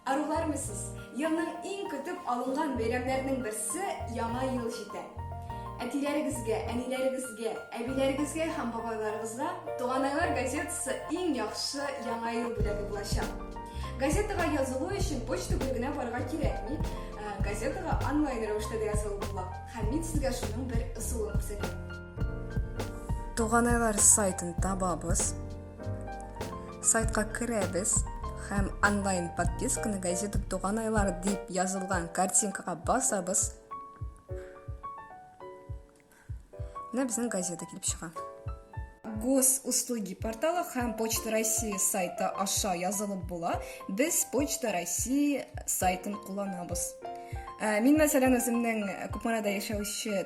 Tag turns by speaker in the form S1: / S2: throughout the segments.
S1: Арулармы сез? Елның иң көтеп алынган бәйрәмнәрнең берсе Яңа ел җитә. Әтиләрегезгә, әниләрегезгә, әбиләрегезгә һәм бабайларыгызга Туганайлар газетасы иң яхшы Яңа ел бүләге булачак. Газетага язылу өчен почта бүлегенә барырга кирәкми. Э, газетага онлайн рәвештә дә язылып була. Һәм мин сезгә шуның бер ысулын күрсәтәм. Туганайлар сайтын табабыз. Сайтка керәбез һәм онлайн подписканы газета туган айлар дип язылган картинкага басабыз. Менә безнең газета килеп чыга. Госуслуги порталы һәм Почта России сайты аша язылып була. Без Почта России сайтын кулланабыз. Ә, мин мәсәлән үземнең Купмарада яшәүче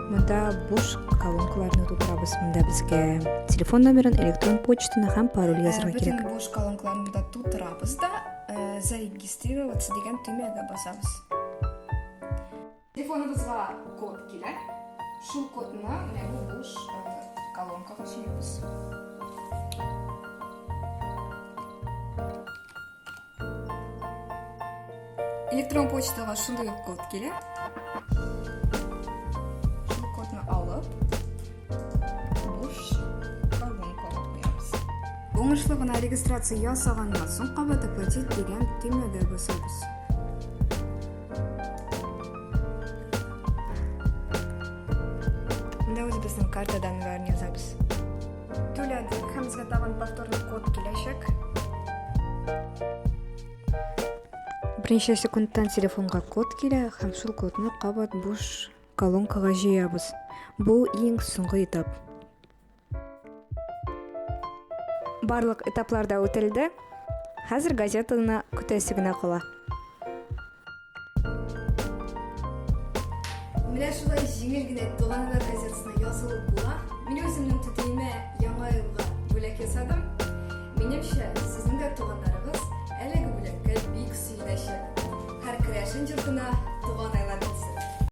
S1: Монда буш колонкаларны тутырабыз. Монда безгә телефон номерын, электрон почтаны һәм пароль язырга кирәк. Бөтен буш колонкаларны да тутырабыз да, зарегистрироваться дигән төймәгә басабыз. Телефоныбызга код килә. Шул кодны менә бу буш колонкага сөйбез. Электрон почтага шундый ук код килә. Шул кодны алып, буш колонка куябыз. Уңышлы гына регистрация ясаганнан соң кабат оплатить дигән төймәгә басабыз. Менә үзебезнең картадан язабыз. Түләдек һәм безгә тагын повторный код киләчәк. Берничә секундтан телефонга код килә һәм шул кодны кабат буш колонкага җыябыз. Бу иң соңгы этап. Барлык этапларда үтелде. Хәзер газетаны көтәсе генә кала. Менә шулай җиңел генә туганнар газетасына язылып була. Мин үземнең түтиемә яңа елга бүләк ясадым. Минемчә, сезнең дә туганнарыгыз әлеге бүләккә бик сөенәчәк. Һәр керәшен йортына туган айлар килсен.